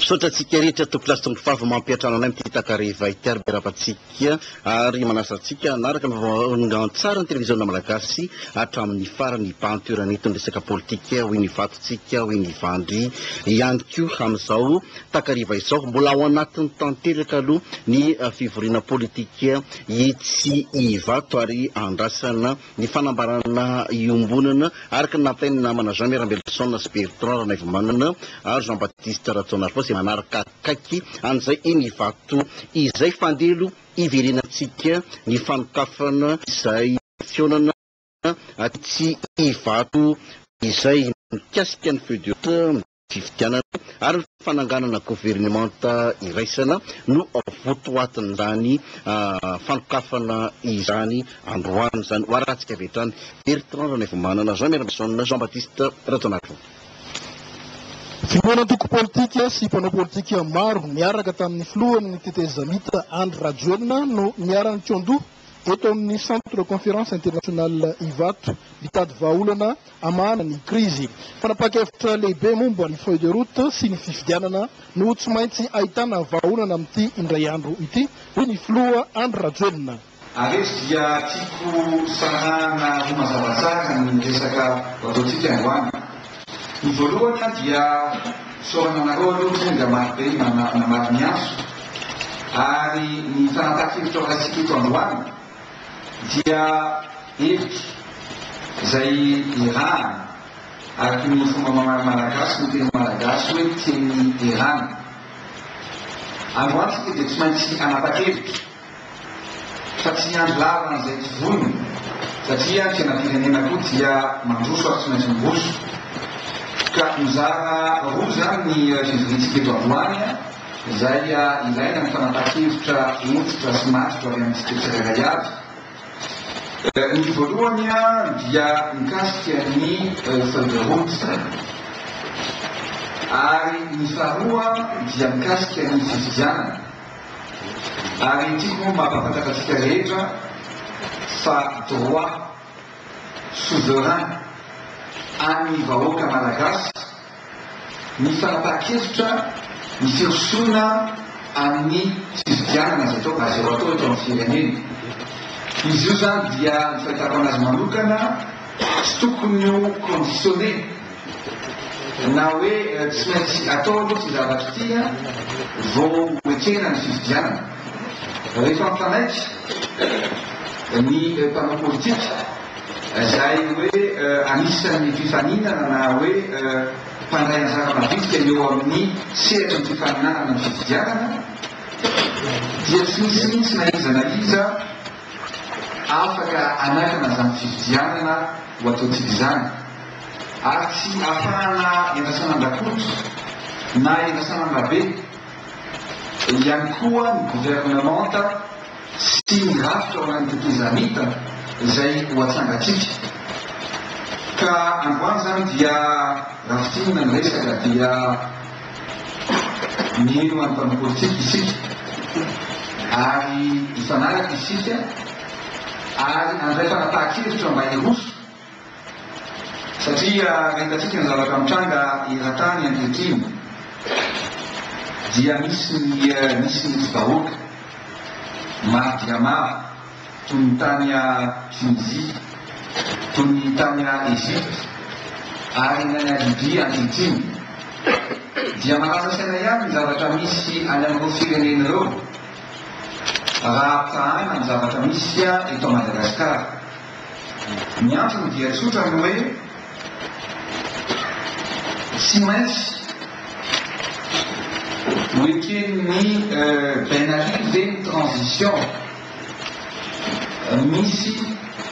Misaotra antsika rehetra tompon'asa tongofafa mampiantrano anay amin'ity takariva ity ary miarahaba antsika ary manasa antsika hanaraka ny vaovao an-tsarin'ny televiziona malagasy hatramin'ny farany mba hantoerana eto ny resaka politika hoy ny vatontsika hoy ny vandry ihany koa amin'izao takariva izao mbola ao anatin'ny tanteraka aloha ny fivoriana politika etsy Ivato ary andrasana Ny fanambarana iombonana, araka ny nampitain' ny namana Jean-Mé Rambelison sy Bertrand Ranaivomanana ary Jean-Baptiste Rajaonarivao izay manaraka akaiky an' izay eny Ivato izay fandelo hiverenantsika ny fanokafana izay fihaonana aty Ivato izay mikasika ny feux de fifidianana ary ny fananganana governemanta iraisana no votoatin'izany fanokafana izany androany izany, ho arantsika avy hatrany. Bertrand Ranaivomanana, Jean Mermerson, Jean Baptiste Rajaonarivony. Filohan'ny antoko politika sy mpanao politika maro niaraka tamin'ny filohan'ny tetezamita Andry Rajoelina no niharan'ny Kiondoha. Eto amin'ny Centre Conférence International Ivato, mitady vahaolana hamahana ny krizy. Fanapahan-kevitra lehibe momba ny feuille de route sy ny fifidianana no tsy maintsy ahitana vahaolana amin'ity indray andro ity, hoy ny filoha Andry Rajoelina. Ary eto dia tiako sarahana ho mazava tsara ny resaka ho ataontsika androany. Ny voalohany dia fisaorana anareo aloha indrindra marobe namaly ny antso ary ny fanapahan-kevitra raisiko eto androany dia hevitra izay erahana araka ny fomba mamaly malagasy ny teny malagasy hoe teny erana. Androany isika dia tsy maintsy hanapa-kevitra. fa tsy hiandry lava an'izay tsy vonona satria ny fiainam-pirenena koa dia mandroso ary tsy maintsy miroso ka mizara roa izany ny fivoriantsika eto androany izay ilaina ny fanapahan-kevitra hentitra sy maty ho avy amintsika tsirairay avy. Ny voalohany dia mikasika ny feuille de route ary ny faharoa dia mikasika ny fifidianana. Ary tiako mba hampahafantatra antsika rehetra fa droit souverain an'ny vahoaka malagasy ny fanapahan-kevitra ny firosoana amin'ny fifidianana izay atao azo atao eto amin'ny firenena. Izy io izany dia ny fahitako an'azy manokana tsy tokony ho conditionné. Na hoe tsy maintsy atao aloha ity zavatra ity vao hoekena ny fifidianana. Rehefa mifanaiky ny mpanao politika izay hoe anisan'ny mpifaninana na hoe mpandray anjara mavitrika eo amin'ny sehatry ny fifaninanana ny fifidianana dia tsy misy mihitsy na iza na iza afaka hanakana izany fifidianana ho ataontsika izany. ary tsy afahana iandrasana an-dakoto na iandrasana an-dabe ihany koa ny governemanta sy ny rafitra ao anatin'ny tetezamita izay ho atsangantsika. Ka androany izany dia raha fintinina ny resaka dia mihaino an'ny mpanao politika isika ary hifanaraka isika ary handray fanapahan-kevitra mba hiroso. Satria raha hitantsika ny zavatra mitranga eran-tany ankehitriny dia misy ny misy ny tsy vahoaka maro dia maro toy ny tany Tunisia, toy ny tany Egypte ary ny any Libye ankehitriny dia malaza saina ihany ny zavatra misy any amin'ireo firenena ireo raha ampitahaina amin'ny zavatra misy eto Madagasikara. Ny antony dia tsotra amin'ny hoe tsy maintsy hoeken'i Ben Ali ve ny transition? Misy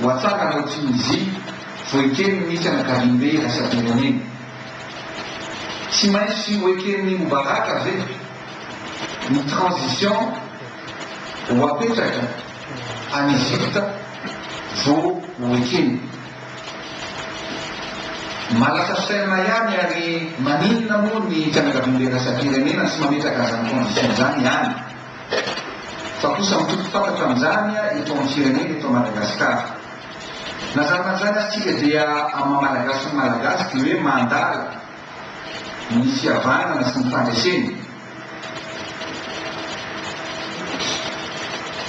watsakana ao Tunisie vao eken'ny Minisitra anakavimbe iraisam-pirenena. Tsy maintsy hoeken'i Moubarak ve ny transition ho apetraka? any Egypta vo ho ekeny. Malasa saina ihany ary maninona moa ny fianakaviambe iraisam-pirenena tsy mametraka azany condition zany any fa kosa mitopy fantatra anzany eto am firenena eto Madagascar. Na zany na zany aztsika dia am maha malagasy ny malagasy de hoe mandala ny fihavanana sy ny fandresena.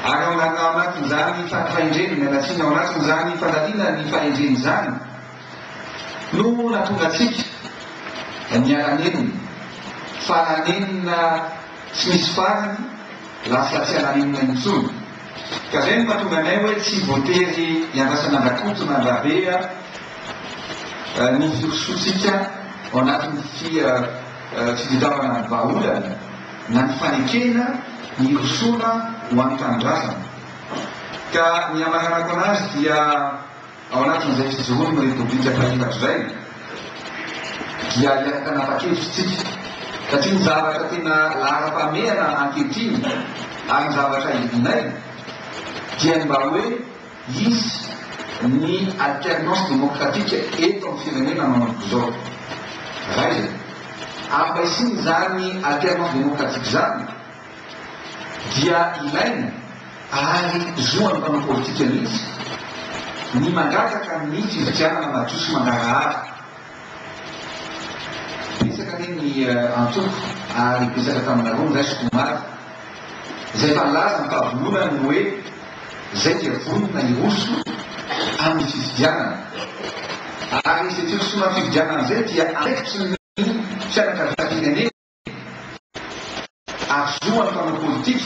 Ary ao anatin'izany fahendrena, nianatsika ao anatin'izany fandaniana ny fahendrena izany no nahatonga antsika niala nenina, fa na nenina tsy misy farany, lasa tsy ala nenina intsony. Ka izay no mahatonga anay hoe tsy voatery hiandrasana an-dRakoto na an-dRabe ny firosoantsika ao anatin'ny. fitadiavana ny vahaolana na ny fanekena ny hirosoana ho any tanindrazana. Ka ny hamaranako anazy dia ao anatin'izay fijoroan'ny Repoblika fahefatra izay dia hiaraka hanapa-kevitra isika satria ny zavatra tena laharam-pahamehana ankehitriny ary ny zavatra irinay dia ny mba hoe Izy ny alternance demokratika eto amin'ny firenena manomboka izao. Raizina. Ampaisin' izany alternance demokratika izany dia ilaina ary zo an'ny mpanao politika mihitsy ny mangataka ny fifidianana madio sy mangarahara. Betsaka anie ny antoko ary betsaka taminareo no raisiko omaly. Izay fa nilaza ny fahavononany ny hoe izay dia vonona hiroso amin'ny fifidianana. Ary izay tsy hiroso amin'ny fifidianana izay dia andraikitry ny fianakaviam-pirenena. Ahazoan'ny mpanao politika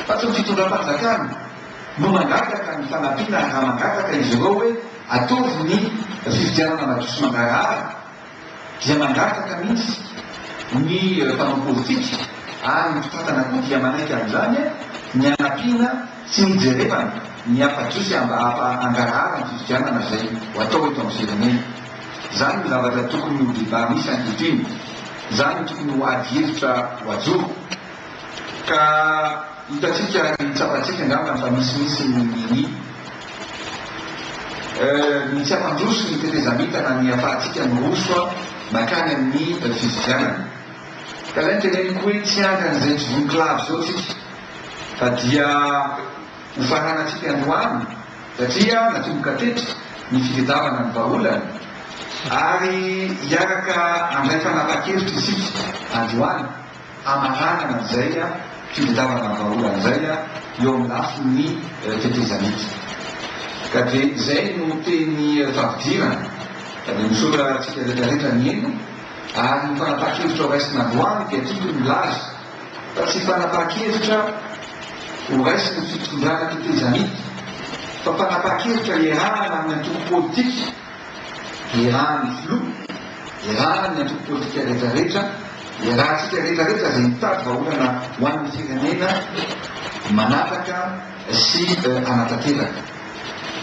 fa tsy ny fitondram-panjakana no mangataka ny fanampiana ary raha mangataka izy ireo hoe ataovy ny fifidianana madio sy mangarahara dia mangataka mihitsy ny mpanao politika ary ny mpitantana koa dia manaiky an'izany ny hanampiana Tsy nojerena ny afa-dratsy ampahangarahana ny fifidianana izay ho atao eto amin'ny firenena. Izany no zavatra tokony ho débat misy ankehitriny. Izany no tokony ho adihevitra ho ajoro. Ka hitantsika ary tsapantsika angamba ny mpamisimisy ny ny ny tsy hampandroso ny tetezamita na ny ahafahantsika miroso mankany amin'ny fifidianana. Ka izay no teneniko hoe tsy haka an'izay tsy vonon-kilavo izao tsika. fa dia ho faranantsika androany satria natomboka teto ny fitadiavana ny vahaolana ary hiaraka handray fanapahan-kevitra isika androany hamaranana izay fitadiavana ny vahaolana izay eo amin'ny lafiny tetezamita. Ka dia izay no teny fahafidirana ka dia misaotra antsika rehetra rehetra nihaino ary ny fanapahan-kevitra ho raisina androany dia tiako ny milaza fa tsy fanapahan-kevitra horaisin'ny fitondrana tetezamita fa fanapahan-kevitra iarahana amin'ny antoko politika iarahan'ny filoha, iarahan'ny antoko politika rehetrarehetra, iarahantsika rehetrarehetra izay mitady vahaolana ho an'ny firenena manataka sy hanatanteraka.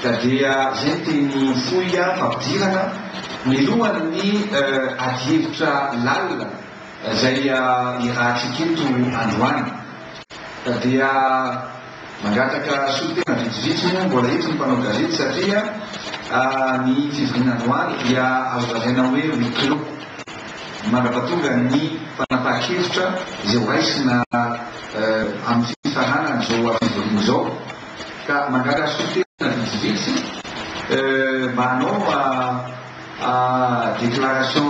Ka dia izay ny teny fohy aho fampidirana ny lohan'ny adihevitra lalina. Izay iarahantsika eto androany. Ka dia mangataka solontena vitsivitsy moa mbola eto ny mpanao gazety satria ny fivoriana androany dia azo lazaina hoe huis clos. Mandrapatonga ny fanapahan-kevitra izay ho raisina amin'ny fifaranan'izao fivoriana izao. Ka mangataka solontena vitsivitsy mba hanao. Déclaration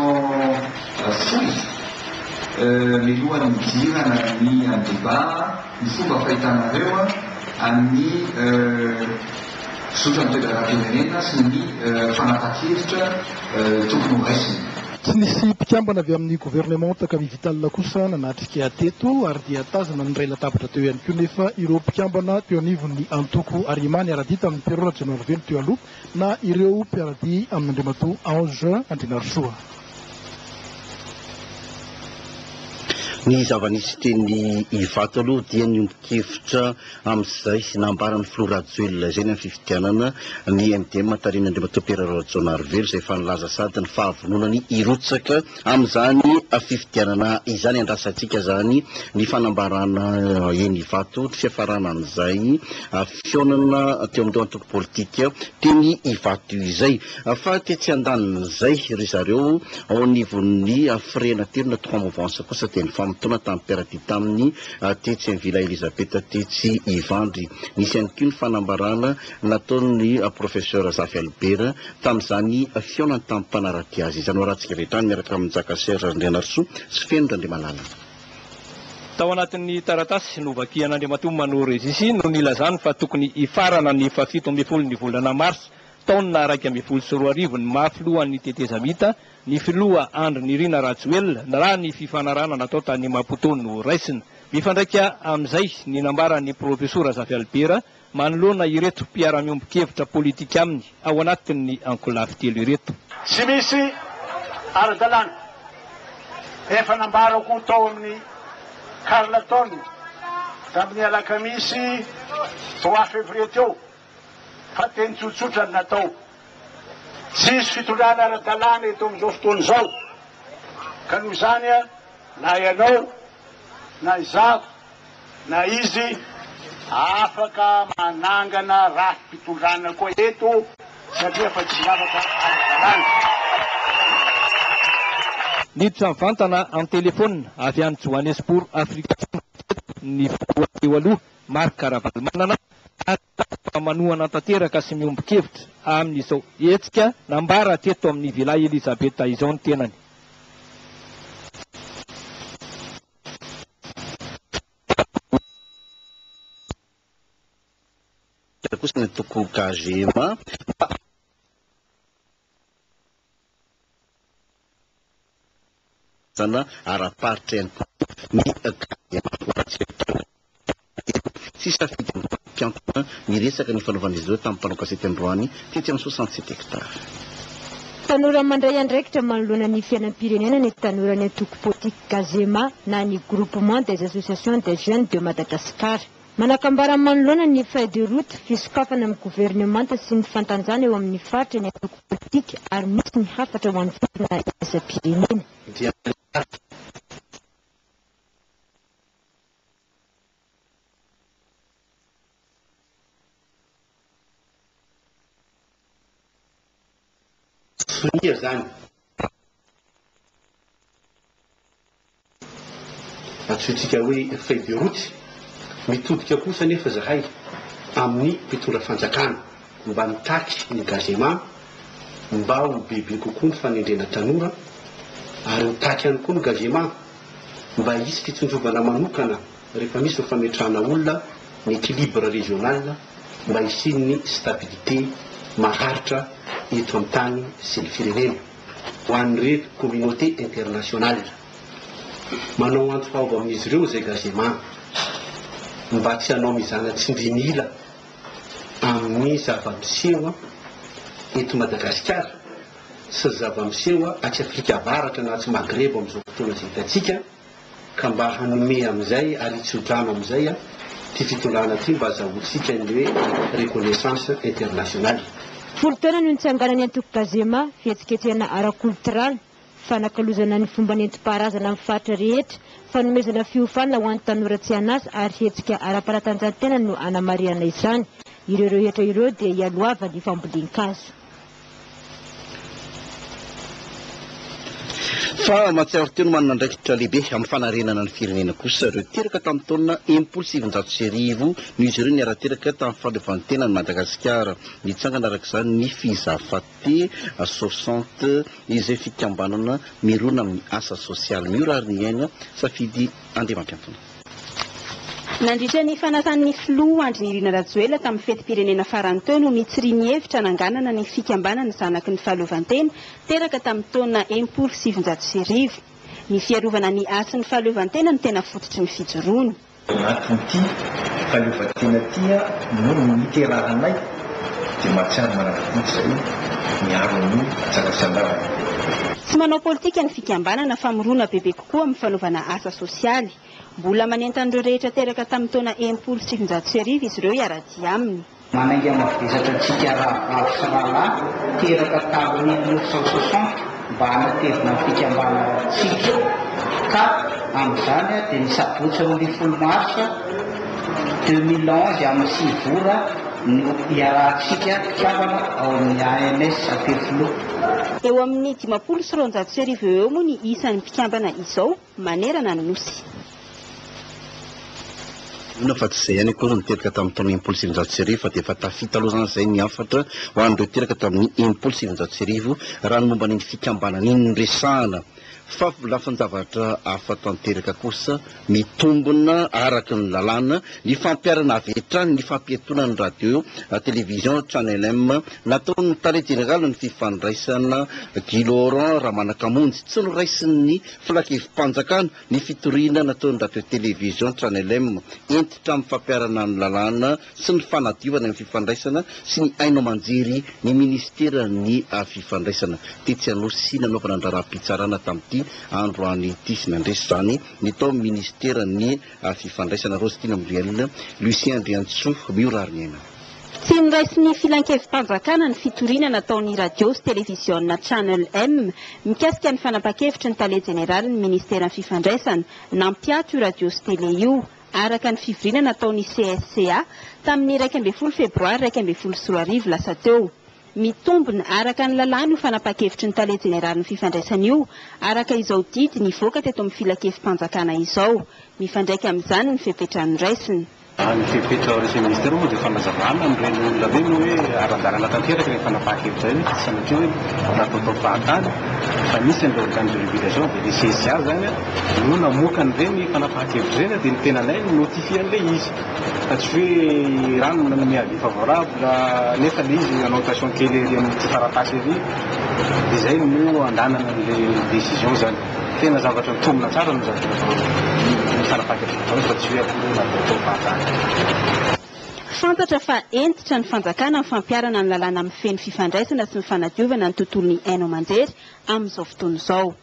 fohy milohan'ny hidirana ny amin'ny débat, ny fomba fahitanareo amin'ny fizotran'ny toe-draharaham-pirenena sy ny fanapahan-kevitra tokony ho raisina. Tsy nisy mpikambana avy amin'ny governemanta Kami Vital kosa nanatrika teto ary dia tazana niray latabatra teo ihany koa nefa ireo mpikambana teo anivon'ny antoko Arima niara-dia tamin'ny mperora John Harvey ny teo aloha na ireo mpiara-dia amin'Andriamatoa Ange Andrianarisoa. Ny zava-nisy teny Ivato aloha dia niombon-kevitra amin'izay nambaran'ny filoha Rajoelina izay ny amin'ny fifidianana ny MDM tarihin'Andriamatoa Pierre Rajaonarivelo izay efa nilaza sady ny fahavononany hirotsaka amin'izany fifidianana izany andrasantsika izany ny fanambarana eny Ivato ny fiafaranan'izay fihaonana teo amin'ireo antoko politika teny Ivato izay. Fa tetsy andanin'izay ry zareo ao anivon'ny Firehana telo na Trois Mouvances kosa dia nifamotoana tamim-piaradia taminy tetsy amin'ny Villa Elisabeth tetsy Ivandry. Nisy ihany koa ny fanambarana nataon'ny Professeur Zafy Albert Tamin'izany fihaonany tamin'ny mpanaradia azy izany ho ratsy geredrano miaraka tamin'i Njaka Serge Randrianarisoa sy Feno Randriamalala. Tao anatin'ny taratasy novakian'Andriamatoa Manno Régis no nilazany fa tokony hifarana ny fahafito ambin'ny folo ny volana marsa taona iraika ambin'ny folo sy roa arivo ny maha filohan'ny tetezamita ny filoha Andry Nirina Rajoelina raha ny fifanarahana natao tany Maputo no raisina. Mifandraika amin'izay ny nambaran'ny profesora Zafy Albert manoloana ireto mpiara-miombon-kevitra politika aminy ao anatin'ny ankolafy telo ireto. Tsy misy ara-dalàna. Efa nambarako tao amin'ny Carlton tamin'ny alakamisy trois février teo fa teny tsotsotra no natao. Tsisy fitondrana ara-dalàna eto amin'izao fotoana izao ka noho izany na ianao Na izaho na izy afaka manangana rafi-pitondrana koa eto satria efa tsy miavaka ara-dalàna. Niditra mivantana an-telefaonina avy any Johannesburg, Afrika Atsimo, teto ny filoha teo aloha Marc Ravalomanana ary Tafita manohana tanteraka sy miombon-kevitra amin'izao hetsika nambara teto amin'ny Villa Elisabeth izao ny tenany. Tena manamarika kosa ny antoko KGMA fa. fanomezana ara-paritra ihany koa ny Gradema Ratsiratana. Tena tena tsy safidy amin'ny mpampiantona ny resaka ny fanaovan'izy ireo tamin'ny mpanao gazety androany tetsy amin'ny soixante sept hectares. Tanora mandray andraikitra manoloana ny fiainam-pirenena ny tanora ny antoko politika Gazema na ny Groupement des associations des jeunes de Madagascar. Manakambara amin'ny manoloana ny feuille de route fisokafana amin'ny governemanta sy ny fantanjana eo amin'ny faritra ny antoko politika ary misy ny hafatra ho an'ny fitona iraisam-pirenena. Sonia izany. Antsointsika hoe feuille de route. Mitodika kosa anefa zahay amin'ny mpitondra fanjakana mba mitaky ny Gazema mba ho bebe kokoa ny fanendrena tanora ary mitaky ihany koa ny Gazema mba hisy fitsinjovana manokana rehefa misy ny fametrahana olona ny equilibre régional mba hisian'ny stabilité maharitra eto amin'ny tany sy ny firenena. ho an'ireto communauté internationale ireo. Manao antso haobo amin'izy ireo izay Gazemanga mba tsy hanao mizana tsindrimila amin'ny zava-miseho eto Madagasikara sy zava-miseho atsy Afrika Avaratra na atsy Maghreb amin'izao fotoana izay hitantsika. ka mba hanome amin'izay ary hitsodrano amin'izay ity fitondrana ity mba azahoantsika ny hoe reconnaissance internationale. Solontenany io nitsanganan'ny antoko Gazema, fihetsiketsehana ara-kolotoraly, fanakalozana ny fomba nentim-paharazana amin'ny faritra rehetra, fanomezana fiofana ho an'ny tanora tsy an'asa ary hetsika ara-panatanjahantena no hanamarihana izany. Ireo rehetra ireo dia ialohavan'ny fambolen-kazo. Fa mahatsiaro tena manana andraikitra lehibe amin'ny fanarenana ny firenena kosa ireo teraka tamin'ny taona enimpolo sy sivinjato sy arivo noho izy ireo niara-teraka tamin'ny fahaleovantenan'i Madagasikara. Nitsangana araka izany ny Fizafate soixante izay fikambanana mirona amin'ny asa sosialy. Miora ary ny aina, safidy andevam-piantona. Nandritra ny fanasan'ny filoha Andry Nirina Rajoelina tamin'ny fetim-pirenena farany teo no nitsiriany hevitra hananganana ny fikambanana zanaky ny fahaleovantena teraka tamin'ny taona enimpolo sy sivinjato sy arivo. Ny fiarovana ny hasin'ny fahaleovantena no tena fototry ny fijoroany. Anatin'ity fahaleovantena ity aho no niterahanay dia mahatsiaro manara-potsy izay miaro an'io atsak'asandrava io. Tsy manao politika ny fikambanana fa mirona bebe kokoa. koa amin'ny fanaovana asa sosialy. Mbola manentana ireo rehetra teraka tamin'ny taona enimpolo sy sivinjato sy arivo izy ireo hiara-dia aminy. Manainga mavesatra antsika rahavavy sy rahalahy teraka tamin'ny mille neuf cent soixante mba hanatevina ny fikambanantsika ka amin'izany dia ny sabotsy roa ambin'ny folo marsa deux mille onze amin'ny sivy ora no iarahantsika mpikambana ao amin'ny AMS Ampefiloha Eo amin'ny dimampolo sy roanjato sy arivo eo ho eo moa ny isan'ny mpikambana izao manerana ny Nosy. Inoana fa tsy izay ihany akory no teraka tamin'ny taona enimpolo sy sivinjato sy arivo fa dia efa tafita aloha izany izay ny hafatra ho an'ireo teraka tamin'ny enimpolo sy sivinjato sy arivo raha ny momba an'iny fikambanana iny no resahana. fa lafin-javatra hafa tanteraka kosa mitombina araka ny lalàna ny fampiharana avy hatrany ny fampiatoana ny radio, télévision, Channel M nataon'ny Tale Jeneralin'ny Fifandraisana, Guy Laurent Ramanakamonjy. Tsy noraisin'ny Filankevi-panjakana ny fitoriana nataon'ny Radio Télévision Channel M hentitra amin'ny fampiharana ny lalàna. sy ny fanadiovana ny fifandraisana sy ny haino aman-jery ny minisiteran'ny fifandraisana tetsy Anosy sy nanaovana ny raharaham-pitsarana tamin'ity androany ity sy nandresy izany ny tao minisiteran'ny fifandraisana Rostina Muriel, Lucien Andriantsoa, Mio Rariniaina. Tsy noraisin'ny filankevi-panjakana ny fitoriana nataon'ny radio sy televiziona Channel M mikasika ny fanapan-kevitry ny tale jeneralin'ny minisiteran'ny fifandraisana nampiato io radio sy tele io araka ny fivoriana nataon'ny CSCA tamin'ny iraika ambin'ny folo febroary iraika ambin'ny folo sy roa arivo lasa teo. Mitombina araka ny lalàna io fanapahan-kevitry ny tale jeneralin'ny fifandraisana io, araka izao didy nivoaka teto amin'ny filankevi-panjakana izao. Mifandraika amin'izany ny fepetra noraisina. Raha ny fepetra horaisina minisitera moa dia fanazavana amin'ireny olona ireny hoe ara-dalàna tanteraka ireny fanapahan-kevitra ireny, tsy sanatria hoe nataotao fahatany, fa misy an'ireo organes de régulation avy amin'ny CSCA izany. no namoaka an'ireny fanapahan-kevitra ireny dia ny tenanay no notifier an'ilay izy fa tsy hoe Iran no nanome avis favorable nefa ilay izy annotation kely ery amin'ity taratasy ery dia izay no andanana an'ilay décision zany. Tena zavatra mitombina tsara no zavatra natao ny fanapahan-kevitra natao eto fa tsy hoe akory na atao atao fa zany. Fantatra fa hentitra ny fanjakana ny fampiharana ny lalàna mifehy ny fifandraisana sy ny fanadiovana ny tontolon'ny haino aman-jery amin'izao fotoana izao.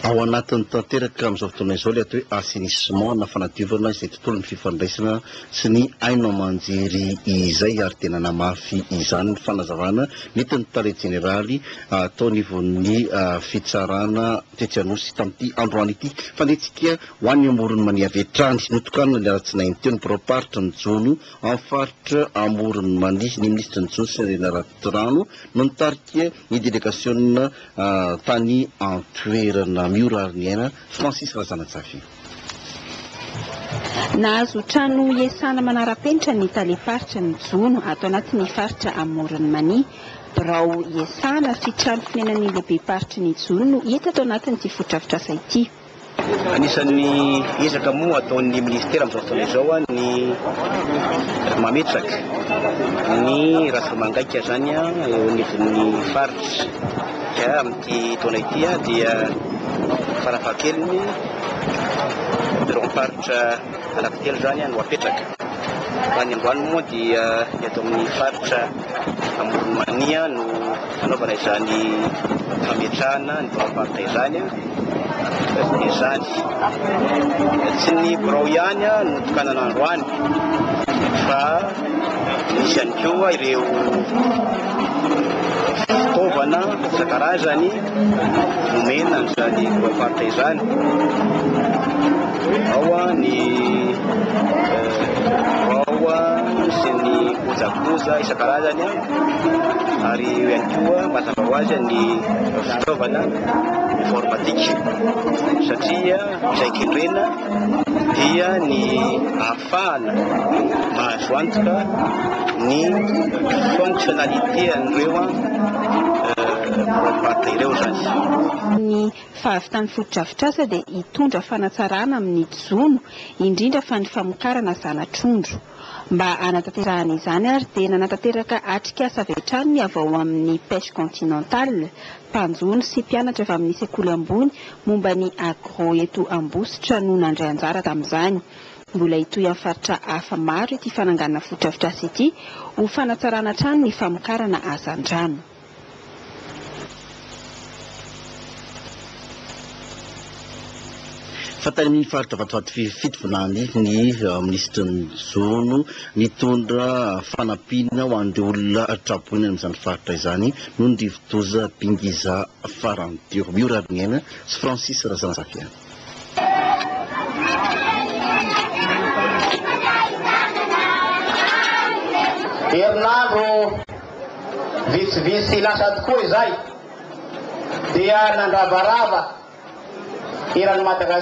Ao anatiny tanteraka amin'izao fotoana izao ilay atao hoe assainissement na fanadiovana izay tontolon'ny fifandraisana sy ny haino aman-jery izay ary dia nanamafy izany ny fanazavana nentin'ny tale jeneraly tao anivon'ny fitsarana tetsy Anosy tamin'ity androany ity. Fanetsika ho an'ny amoron'i Maniavy hatrany. Notokanana ny alatsinainy teo ny biraom-paritry ny jono amin'ny faritra Amoron'i Mania. Ny minisitry ny jono sy ny harena rakotorano no nitarika ny delegasiona tany an-toerana Miora ary ny aina, Francis Razanatsavy. Nahazo trano iasana manara-penitra ny tale faritra ny jono ato anatin'ny faritra Amoron'i Mania. Birao iasana sy trano fonenan'ny lehibem-paritry ny jono no hita ato anatin'ity fotodrafitrasa ity. Anisan'ny ezaka moa ataon'ny Minisitera amin'izao fotoana izao ny mametraka ny raflamangaika izany eo anivon'ny faritra ka amin'ity taona ity dia farafahakeliny raom-paritra anankitelo izany no hapetraka. Raha ny androany moa dia ny ato amin'ny faritra. Amin'ny Roumania no hanaovana izany fametrahana ny biraom-paritra izany. Tsy ny birao ihany no notokanana androany fa nisy ihany koa ireo fitaovana isan-karazany nomena an'izany biraom-paritra izany. Ao ny birao sy ny Loza isan-karazany ary eo ihany koa mazava ho azy ny fitaovana informatika satria izay kendrena dia ny ahafahana mahazo antoka ny fonctionnalité an'ireo boîte ireo izany. Ny fahavitan'ny fotodrafitrasa dia hitondra fanatsarana amin'ny kijono, indrindra fa ny famokarana zana-trondro. Mba hanatanterahana izany ary dia nanatanteraka atrikasa avy hatrany avy ao amin'ny Pêche Continentale, mpanjono sy mpianatra avy amin'ny sekoly ambony momba ny agro eto Ambositra no nandray anjara tamin'izany. Mbola hitohy amin'ny faritra hafa maro ity fananganana fotodrafitrasa ity ho fanatsarana hatrany ny famokarana hazandrano. Fa tany amin'ny faritra Vatovato fito volany ny minisitry ny Jono nitondra fanampiana ho an'ireo olona traboina any amin'izany faritra izany noho ny rivodoza Bingiza faran'ity. Miorarignena sy Francis Razanazafy. Herinandro vitsivitsy lasa tokoa izay dia nandravarava eran'i Madagasikara.